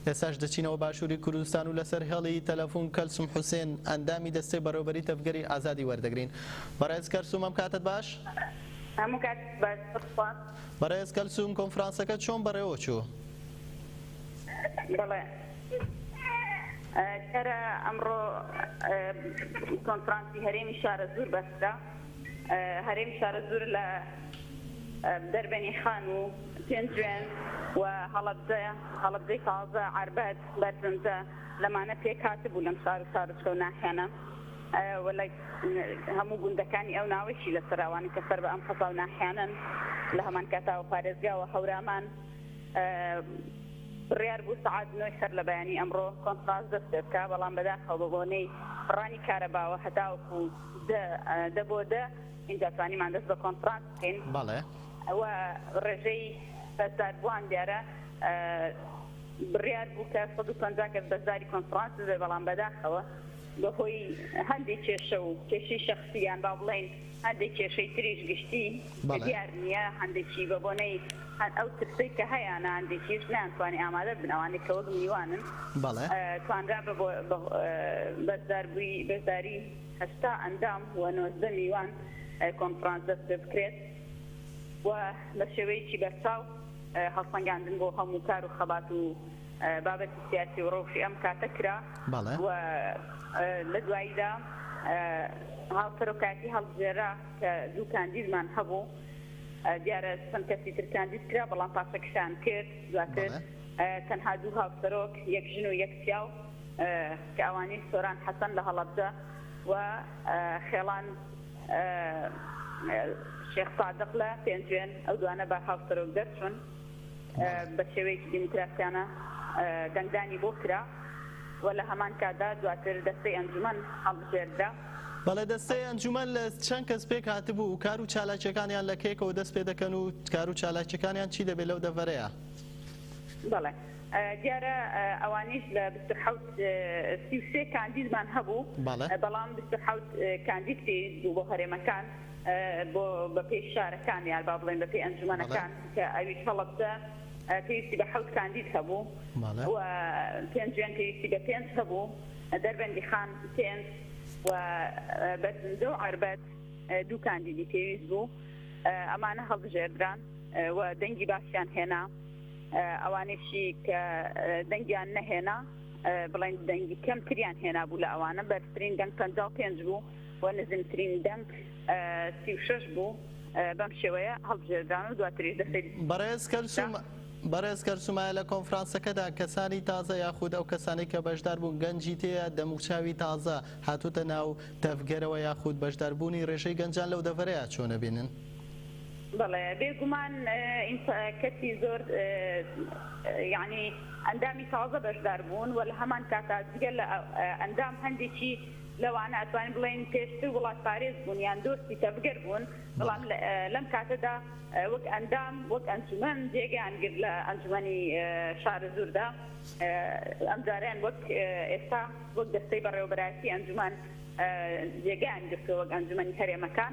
ئێستاش دەچینەوە باشووری کوردستان و لەسەر هێڵی تەلەفوون کەلسوم حوسێن، ئەندامی دەستەی بەڕێوەبەریی تەڤگەری ئازادی وەردەگرین. بەڕێز کەرسووم ئەم کاتەت باش؟ هەموو کاتێکی باش بۆ تۆ. بەڕێز کەلسووم کۆنفرانسەکە چۆن بەڕێوەچوو؟ بەڵێ کەرە ئەمڕۆ کۆنفرانسی هەرێمی شارەزوور بەسترا. هەرێم شارەزوور لە دەربەنی خان و پێنجوێن و هەڵەبجە، هەڵەبجەی تازە، ئاربەت، بەرزنجە، لەمانە پێک هاتبوو لەم شار و شارۆچکە و ناحیانە و لە هەموو گوندەکانی ئەو ناوەیشی لەسەرە ئەوانەی کە سەر بە ئەم قەزا و ناحیانەن لە هەمان کاتاوە پارێزگا و هەورامان بڕیار بوو سەعات نۆی سەر لە بەیانی ئەمڕۆ کۆنفرانس دەست پێ بکا بەڵام بەداخەوە بە بۆنەی بڕانی کارەباوە هەتاوەکوو دە دە بۆ دە ئینجا توانیمان دەست بە کۆنفرانس بکەین بەڵێ. و ڕێژەی بەشداربووان دیارە بڕیار بوو کە سەد و پەنجا کەس بەشداری کۆنفرانس ببێت بەڵام بەداخەوە بەهۆی هەندێک کێشە و کێشەی شەخسی یان با بڵێین هەندێک کێشەی تریش گشتی کە بەڵێ. دیار نییە هەندێکی بە بۆنەی هەن ئەو ترسەی کە هەیانە هەندێکیش نەیانتوانی ئامادە بن ئەوانەی کە وەک میوانن بەڵێ. توانرا بە بۆ بە بەشداربووی بەشداری هەشتا ئەندام و نۆزدە میوان کۆنفرانس دەستپێبکرێت و بە شێوەیەکی بەرچاو هەڵسەنگاندن بۆ هەموو کار و خەبات و بابەتی سیاسی و رەوشی ئەم کاتە کرا و لە دواییدا هاوسەرۆکایەتی هەڵبژێررا کە دوو کاندیدمان هەبوو دیارە چەند کەسی تر کاندید کرا بەڵام پاشەکشەیان کرد دواتر تەنها دوو هاوسەرۆک یەک ژن و یەک پیاو کە ئەوانیش سۆران حەسەن لە هەڵەبجە و خێڵان شێخ سادق لە پێنجوێن، ئەو دوانە بە هاوسەرۆک دەرچوون، بە شێوەیەکی دیموکراسیانە دەنگدانی بۆ کرا و لە هەمان کاتدا دواتر دەستەی ئەنجومەن هەڵبژێردرا. بەڵێ دەستەی ئەنجومەن لە چەند کەس پێک هاتبوو و کار و چالاکییەکانیان لە کەیەکەوە دەست پێ دەکەن و کار و چالاکییەکانیان چی دەبێت لەو دەڤەرەیە؟ بەڵێ دیارە ئەوانیش لە بیست و حەوت سی و سێ کاندیدمان هەبوو، بەڵام بیست و حەوت کاندید پێویست بوو بۆ هەرێمەکان، بۆ بەپێی شارەکان یان با بڵێین بەپێی ئەنجومەنەکان کە ئەویش هەڵەبجە پێویستی بە حەوت کاندید هەبوو و پێنجوێن پێویستی بە پێنج هەبوو، دەربەندیخان پێنج و بەرزنجە و عەربەت دوو کاندیدی پێویست بوو، ئەمانە هەڵبژێردران و دەنگی باشیان هێنا. ئەوانیشی کە دەنگیان نەهێنا بڵێن دەنگی کەمتریان هێنابوو لە ئەوانە بەرترین دەنگ 55 بوو و نزمترین دەنگ 36 بوو بەم شێوەیە هەڵبژێردران و دواتریش دەستی بەڕێز کەلسوم بەڕێز کەلسومایە لە کۆنفرانسەکەدا کەسانی تازە یاخود ئەو کەسانەی کە بەشدار بوون گەنجی تێیە دەموچاوی تازە هاتوتە ناو تەڤگەرەوە یاخود بەشداربوونی ڕێژەی گەنجان لەو دەڤەرەیە چۆن ئەبینن؟ بەڵێ بێ گومان کەسی زۆر یانی ئەندامی تازە بەشدار بوون و لە هەمان کاتا جگە لە ئەندام هەندێکی لەوانە ئەتوانین بڵێن پێشتر وڵات پارێز بوون یان دۆستی تەڤگەر بوون بەڵام لەم کاتەدا وەک ئەندام وەک ئەنجومەن جێگەیان گرت لە ئەنجومەنی شارە زوردا ئەم جاریان وەک ئێستا وەک دەستەی بەڕێوەبەراتی ئەنجومان جێگەیان گرتووە وەک ئەنجومەنی هەرێمەکان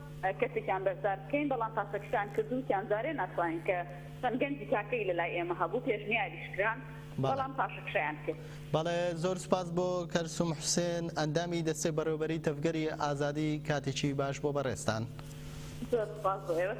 کەسێکیان بەشدار بکەین، بەڵام پاشەکشەیان کرد و تیان جارێ ناتوانین کە چەند گەنجی تاکەی لە لای ئێمە هەبوو پێشنیاریش کران بەڵام پاشەکشەیان کرد. بەڵێ زۆر سوپاس بۆ کەلسوم حوسێن ئەندامی دەستەی بەڕێوەبەریی تەڤگەری ئازادی کاتێکی باش بۆ بەڕێزتان. زۆر سوپاس بۆ ئێوەش.